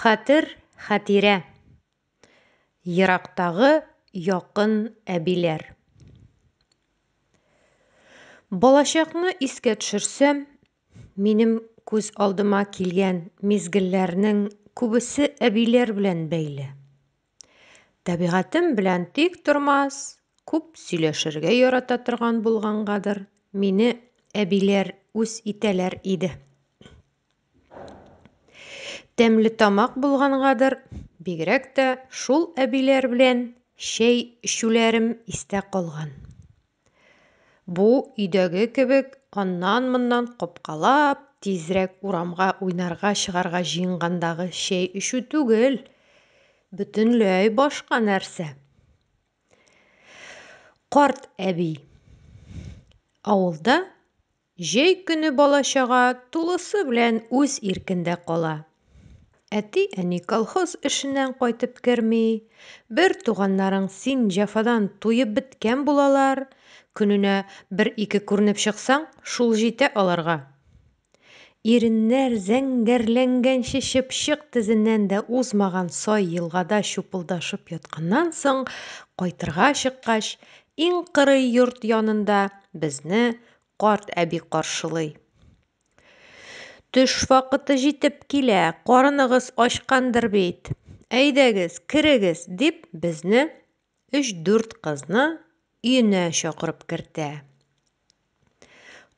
Хәтер, хәтирә. Ерактагы якын әбиләр. Балачакны искә төшерсәм, минем күз алдыма килгән мизгелләрнең күбесе әбиләр белән бәйле. Тәбигатем белән тик тормас, күп сөйләшергә ярата торган булгангадыр, мине әбиләр үз итәләр иде. Тәмлетамак булгангадыр, бигрәк тә шул әбиләр белән чәй эчүләрем истә калган. Бу, өйдәге кебек, аннан-моннан капкалап, тизрәк урамга уйнарга чыгарга җыенгандагы чәй эчү түгел. Бөтенләй башка нәрсә. Карт әби. Авылда Җәй көне бала-чага тулысы белән үз иркендә кала. Әти-әни колхоз эшеннән кайтып керми, бер туганнарың син җәфадан туеп беткән булалар, көненә бер-ике күренеп чыксаң, шул җитә аларга. Иреннәр зәңгәрләнгәнче чыпчык тезеннән дә узмаган сай елгада чупылдашып ятканнан соң, кайтырга чыккач, иң кырый йорт янында безне карт әби каршылый. Төш вакыты җитеп килә, карыныгыз ачкандыр бит. Әйдәгез, керегез, дип безне, өч-дүрт кызны, өенә чакырып кертә.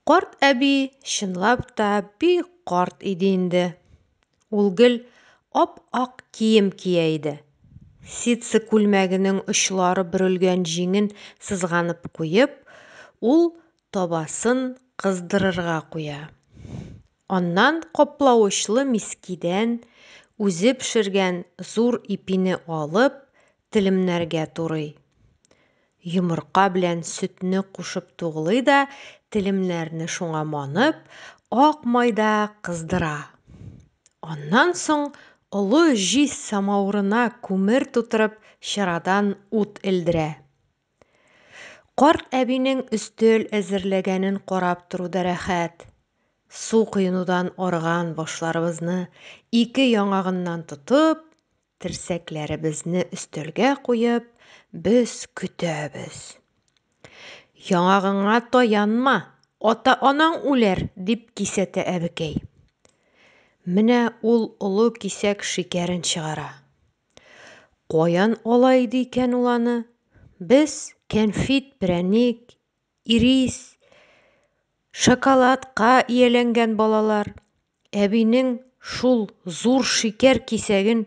Карт әби чынлап та бик карт иде инде. Ул гел ап-ак кием кия иде. Ситсы күлмәгенең очлары бөрелгән җиңен сызганып куеп, ул табасын кыздырырга куя. Аннан каплавычлы мискидән үзе пешергән зур ипине алып, телемнәргә турый. Йомырка белән сөтне кушып туглый да, телемнәрне шуңа манып, ак майда кыздыра. Аннан соң олы җиз самавырына күмер тутырып, чырадан ут элдерә. Карт әбинең өстел әзерләгәнен карап тору да рәхәт. Су коенудан арыган башларыбызны ике яңагыннан тотып, Терсәкләребезне өстәлгә куеп, без көтәбез. Яңагыңа таянма, ата-анаң үләр, дип кисәтә әбекәй. Менә ул олы кисәк шикәрен чыгара. Каян ала иде икән ул аны? Без кәнфит, прәник, ирис, шоколадка ияләнгән балалар. Әбинең шул зур шикәр кисәген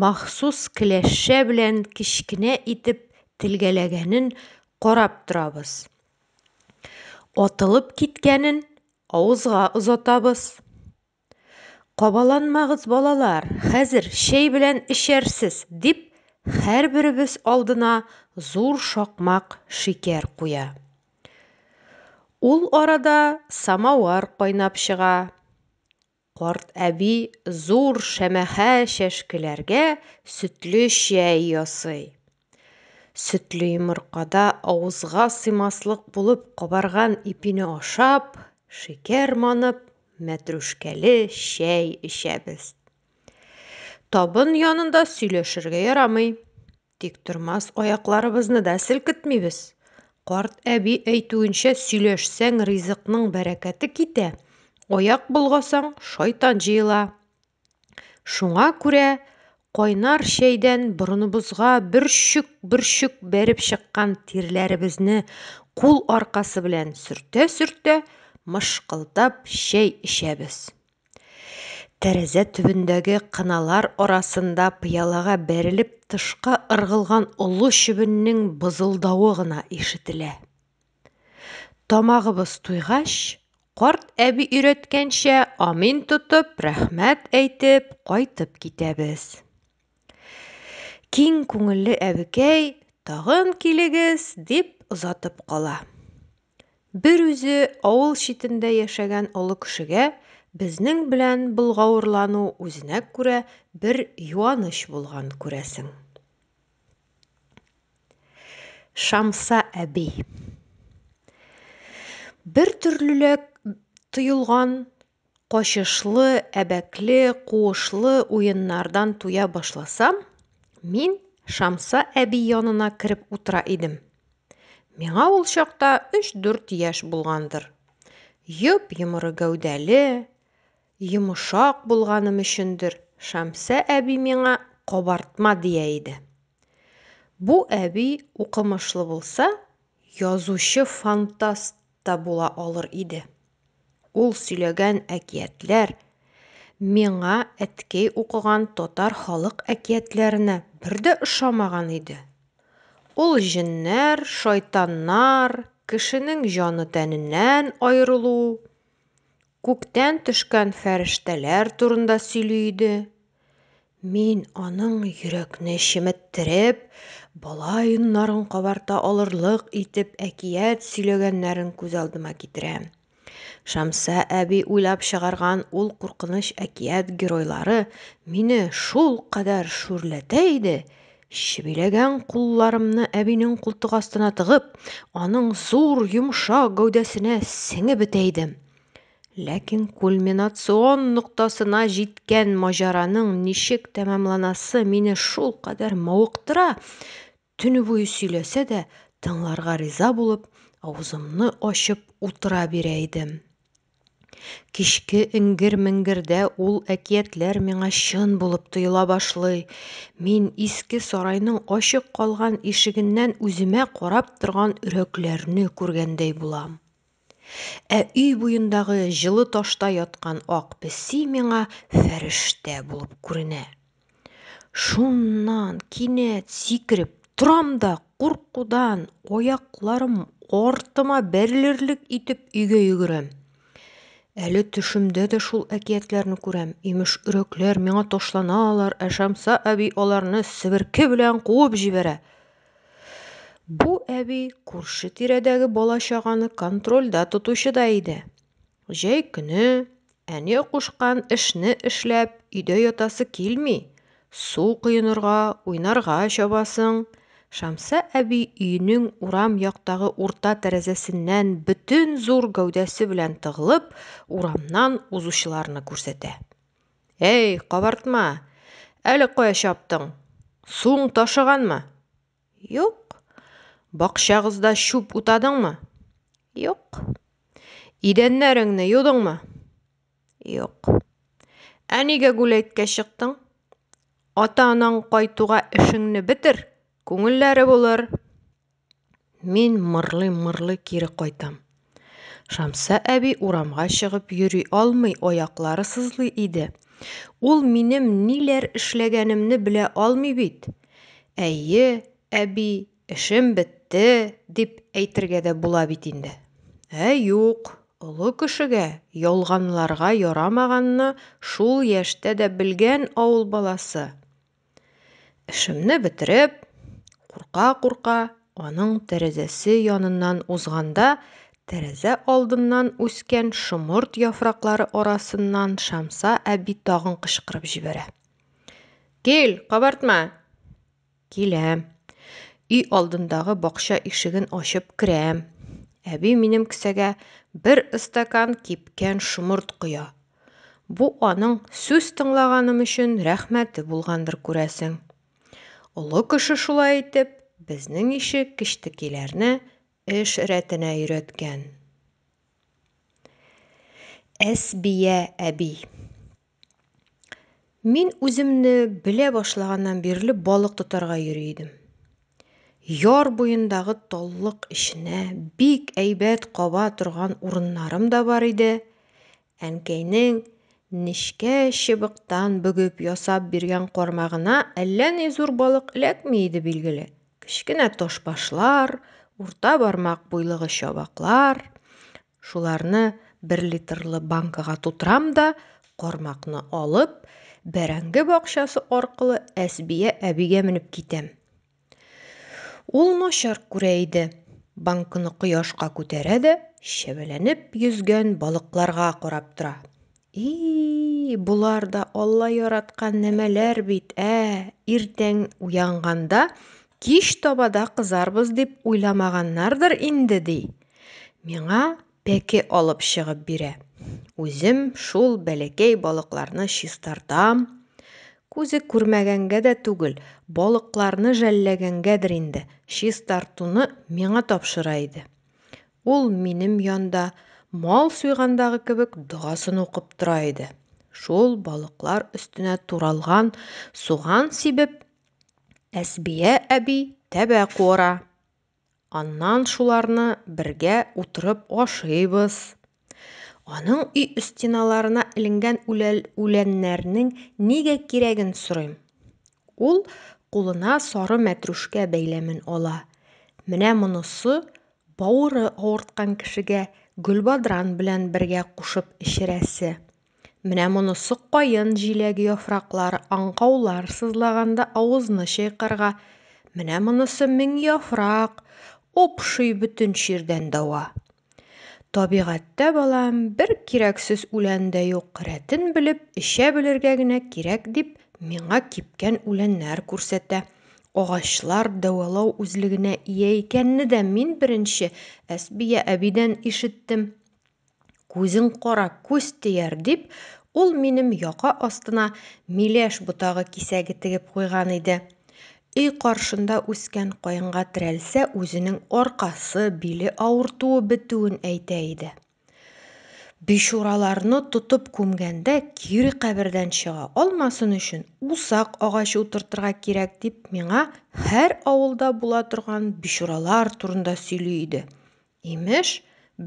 махсус кләшчә белән кечкенә итеп телгәләгәнен карап торабыз. Атылып киткәнен авызга озатабыз. Кабаланмагыз, балалар, хәзер чәй белән эчәрсез, дип, һәрберебез алдына зур шакмак шикәр куя. Ул арада самавар кайнап чыга. Карт әби зур шәмәхә чәшкеләргә сөтле чәй ясый. Сөтле йомыркада авызга сыймаслык булып кабарган ипине ашап, шикәр манып, мәтрүшкәле чәй эчәбез. Табын янында сөйләшергә ярамый. Тиктормас аякларыбызны да селкетмибез. Карт әби әйтүенчә, сөйләшсәң, ризыкның бәрәкәте китә, аяк болгасаң, шайтан җыела. Шуңа күрә кайнар чәйдән борыныбызга бөрчек-бөрчек бәреп чыккан тирләребезне кул аркасы белән сөртә-сөртә, мышкылдап чәй эчәбез. Тәрәзә төбендәге кыналар арасында пыялага бәрелеп тышка ыргылган олы чебеннең бызылдавы гына ишетелә. Тамагыбыз туйгач, карт әби өйрәткәнчә амин тотып, рәхмәт әйтеп, кайтып китәбез. Киң күңелле әбекәй, тагын килегез, дип озатып кала. Бер үзе авыл читендә яшәгән олы кешегә безнең белән болгавырлану үзенә күрә бер юаныч булган, күрәсең. Шамса әби. Бертөрлеләк тоелган качышлы, әбәкле, куышлы уеннардан туя башласам, мин Шамса әби янына кереп утыра идем. Миңа ул чакта өч-дүрт яшь булгандыр. Йоп-йомры гәүдәле, йомшак булганым өчендер, Шамса әби миңа кабартма дия иде. Бу әби укымышлы булса, язучы-фантаст та була алыр иде. Ул сөйләгән әкиятләр миңа әткәй укыган татар халык әкиятләренә бер дә ошамаган иде. Ул җеннәр, шайтаннар, кешенең җаны тәненнән аерылу, Күктән төшкән фәрештәләр турында сөйли иде. Мин аның йөрәкне чеметтереп, бала йоннарын кабарта алырлык итеп әкият сөйләгәннәрен күз алдыма китерәм. Шамса әби уйлап чыгарган ул куркыныч әкият геройлары мине шулкадәр шүрләтә иде, Чебиләгән кулларымны әбинең култык астына тыгып, аның зур, йомшак гәүдәсенә сеңеп бетә идем. Ләкин кульминацион ноктасына җиткән маҗараның ничек тәмамланасы мине шулкадәр мавыктыра, төне буе сөйләсә дә, тыңларга риза булып, авызымны ачып утыра бирә идем. Кичке эңгер-меңгердә ул әкиятләр миңа чын булып тоела башлый. Мин иске сарайның ачык калган ишегеннән үземә карап торган өрәкләрне күргәндәй булам. Ә өй буендагы җылы ташта яткан ак песи миңа фәрештә булып күренә. Шуннан кинәт сикереп торам да, куркудан аякларым артыма бәрелерлек итеп өйгә йөгерәм. Әле төшемдә дә шул әкиятләрне күрәм. Имеш, өрәкләр миңа ташланалар, ә Шамса әби аларны себерке белән куып җибәрә. Бу әби күрше тирәдәге бала-чаганы контрольдә тотучы да иде. Җәй көне, әни кушкан эшне эшләп, өйдә ятасы килми. Су коенырга, уйнарга чабасың. Шәмсә әби өенең урам яктагы урта тәрәзәсеннән бөтен зур гәүдәсе белән тыгылып, урамнан узучыларны күрсәтә. Әй, кабартма! Әле кая чаптың? Суың ташыганмы? Юк. Бакчагызда чүп утадыңмы? Юк. Идәннәреңне юдыңмы? Юк. Ә нигә гүләйткә чыктың? Ата-анаң кайтуга эшеңне бетер, күңелләре булыр. Мин мырлый-мырлый кире кайтам. Шамса әби урамга чыгып йөри алмый, аяклары сызлый иде. Ул минем ниләр эшләгәнемне белә алмый бит. Әйе, әби, эшем бетте, дип әйтергә дә була бит инде. Ә юк, олы кешегә ялганларга ярамаганны шул яшьтә дә белгән авыл баласы. Эшемне бетереп, курка-курка, аның тәрәзәсе яныннан узганда, тәрәзә алдыннан үскән шомырт яфраклары арасыннан Шамса әби тагын кычкырып җибәрә. Кил, кабартма! Киләм. Өй алдындагы бакча ишеген ачып керәм. Әби минем кесәгә бер стакан кипкән шомырт коя Бу аның сүз тыңлаганым өчен рәхмәте булгандыр, күрәсең. Олы кеше шулай итеп, безнең ише кечтекиләрне эш рәтенә өйрәткән. Әсбия әби. Мин үземне белә башлаганнан бирле балык тотарга йөри идем. Яр буендагы таллык эченә бик әйбәт каба торган урыннарым да бар иде. Әнкәйнең нечкә чыбыктан бөгеп ясап биргән кармагына әллә ни зур балык эләкми иде, билгеле. Кечкенә тошбашлар, урта бармак буйлыгы чабаклар, Шуларны бер литрлы банкага тутырам да, кармакны алып, бәрәңге бакчасы аркылы Әсбия әбигә менеп китәм. Ул начар күрә иде. Банкны кояшка күтәрә дә, чәбәләнеп йөзгән балыкларга карап тора. И-и-и, болар да Алла яраткан нәмәләр бит, ә, иртән уянганда, кич таба да кызарбыз дип уйламаганнардыр инде, ди. Миңа пәке алып чыгып бирә. Үзем шул бәләкәй балыкларны чистартам. Күзе күрмәгәнгә дә түгел, балыкларны жәлләгәнгәдер инде, чистартуны миңа тапшыра иде. Ул минем янда мал суйгандагы кебек догасын укып тора иде. Шул балыклар өстенә туралган суган сибеп, Әсбия әби тәбә куыра. Аннан шуларны бергә утырып ашыйбыз. Аның өй стеналарына эленгән үләннәрнең нигә кирәген сорыйм. Ул кулына сары мәтрүшкә бәйләмен ала. Менә монысы бавыры авырткан кешегә гөлбадран белән бергә кушып эчерәсе. Менә монысы каен җиләге яфраклары аңкаулар сызлаганда авызны чайкарга, менә монысы мең яфрак, упшый бөтен чирдән дәва. Табигатьтә, балам, бер кирәксез үлән дә юк, рәтен белеп, эчә белергә генә кирәк, дип, миңа кипкән үләннәр күрсәтә. Агачлар дәвалау үзлегенә ия икәнне дә мин беренче Әсбия әбидән ишеттем. Күзең кара, күз тияр, дип, ул минем яка астына миләш ботагы кисәге тегеп куйган иде. Өй каршында үскән каенга терәлсә, үзенең аркасы, биле авыртуы бетүен әйтә иде. Бичураларны тотып күмгәндә, кире кабердән чыга алмасын өчен, усак агачы утыртырга кирәк, дип, миңа һәр авылда була торган бичуралар турында сөйли иде. Имеш,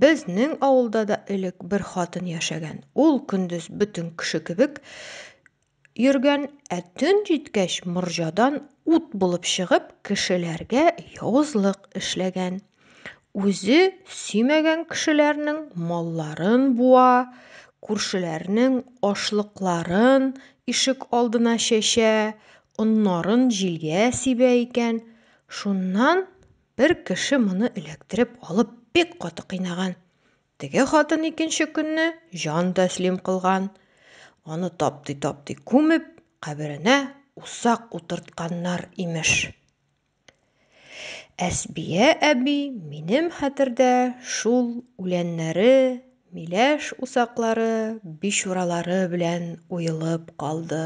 безнең авылда да элек бер хатын яшәгән, ул көндез бөтен кеше кебек йөргән, ә төн җиткәч морҗадан ут булып чыгып кешеләргә явызлык эшләгән. Үзе сөймәгән кешеләрнең малларын буа, күршеләрнең ашлыкларын ишек алдына чәчә, оннарын җилгә сибә икән. Шуннан бер кеше моны эләктереп алып бик каты кыйнаган. Теге хатын икенче көнне җан тәслим кылган, аны таптый-таптый күмеп, каберенә усак утыртканнар, имеш. Әсбия әби минем хәтердә шул үләннәре, миләш усаклары, бичуралары белән уелып калды.